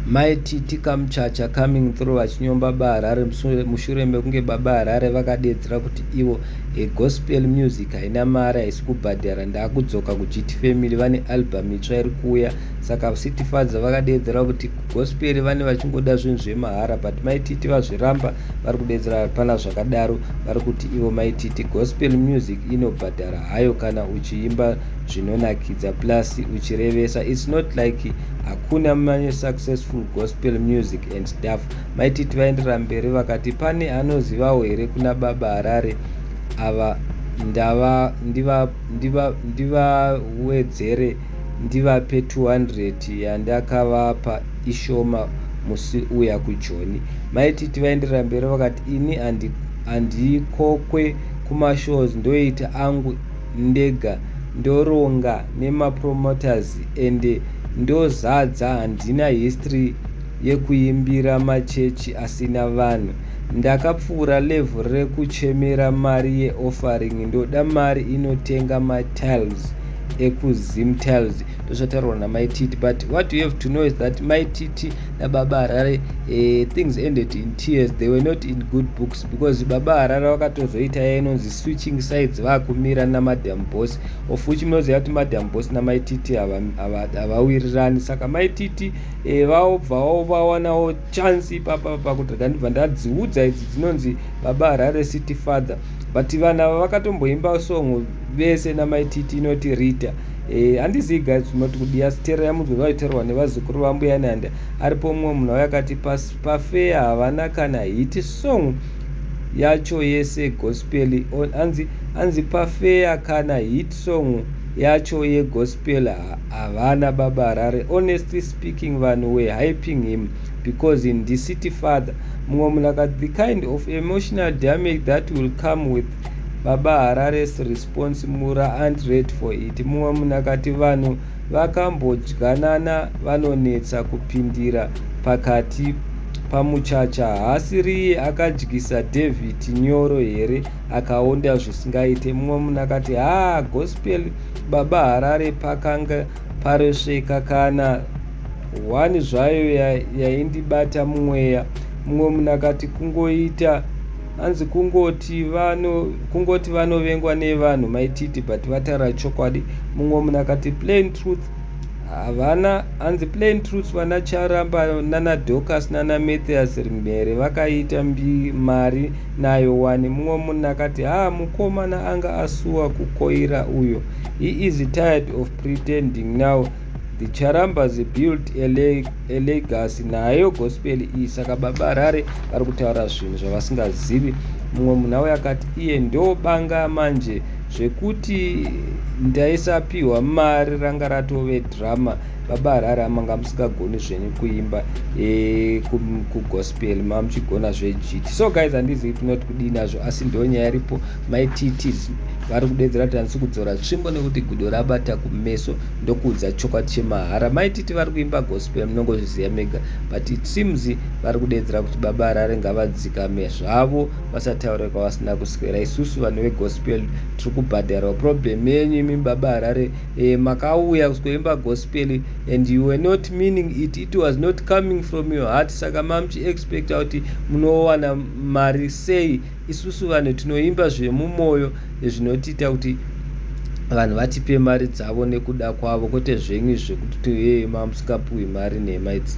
Mai Titi Kamuchacha coming through vachinyomba baHarare mushure mekunge baba Harare vakadeedzera kuti ivo a gospel music haina mari haisi kubhadhara ndakudzoka kuGT Family vane album itsva iri kuuya saka City Father vakadeedzera kuti gospel vane vachingoda zvinhu zvemahara but Mai Titi vazviramba vari kudeedzera hapana zvakadaro vari kuti ivo Mai Titi gospel music inobhadhara hayo kana uchiimba zvinonakidza plus uchirevesa it's not like hakuna manye successful gospel music and stuff maititi vaenderera mberi vakati pane anozivawo here kuna baba harare ava ndava ndivawedzere ndiva, ndiva ndivape 200 yandakavapa ishoma musi uya kujoni maititi vaenderera mberi vakati ini handikokwe kumashows ndoita angu ndega ndoronga nemapromoters and ndozadza handina history yekuimbira machechi asina vanhu ndakapfuura level rekuchemera mari yeoffering ndoda mari inotenga matiles ekuzim tiles ndozvataurwa namai titi but what you have to know is that mai titi nababa harare uh, things ended in tears they were not in good books because baba harare vakatozoita yainonzi switching sides vakumira namadam boss of which munoziva kuti madam boss namai titi havawirirani saka mai titi eh, vaobvawo vawanawo chance ipapa pakuti ndandibva ndadziudza idzi dzinonzi baba harare city father but vanhu ava vakatomboimba song vese namai titi inoti rita eh, handizivi guys zvinoti kudiya sitera yamunzwa vaiterwa nevazukuru vambuya nanda aripo mumwe munhu wayakati pafeya havana kana hiti song yacho yese gospel on anzi anzi pafeya kana hit song yacho yegospel havana baba harare honestly speaking vanhu were hyping him because in the city father mumwe munhu akati the kind of emotional damage that will come with baba harare's response mura and red for it mumwe munhu akati vanhu vakambodyanana vanonetsa kupindira pakati pamuchacha hasi riye akadyisa david nyoro here akaonda zvisingaite mumwe munhu akati haa gospel baba harare pakanga paresveka kana hwani zvayo yaindibata ya mumweya mumwe munhu akati kungoita hanzi kungoti vano kungoti vanovengwa nevanhu maititi but vataura chokwadi mumwe munhu akati plain truth havana hanzi plain truth vana charamba nana docas nana mathias rimhere vakaita mbi mari nayo wani mumwe munhu akati ha mukomana anga asuwa kukoira uyo he is tired of pretending now the charambas built a, leg, a legacy nayo gospel iyi saka baba harare vari kutaura zvinhu zvavasingazivi mumwe munhu auya akati iye ndobanga manje zvekuti ndaisapiwa mari ranga ratove drama baba harare amanga musingagoni zvenyu kuimba e, kugospel mamuchigona zvejiti so guys handizivi tinoti kudii nazvo asi ndonyaya iripo Mai Titi vari kudedzera kuti handisi kudzora tsvimbo nekuti gudo rabata kumeso ndokuudza chokwadi chemahara. Mai Titi vari kuimba gospel munongozviziva mega but it seems vari kudedzera kuti baba Harare ngavadzikame zvavo vasataure kwavasina kuswera. Isusu vanhu vegospel tiri kubhadharwa. Problem yenyu imi baba Harare eh, makauya kuzoimba gospel and you were not meaning it. It was not coming from your heart saka mamuchi expecta kuti munowana mari sei Isusu vanhu tinoimba zvemumoyo zvinotiita kuti vanhu vatipe mari dzavo nekuda kwavo kwete zvenyu zvekuti toyema musingapuwi mari nhema idzi.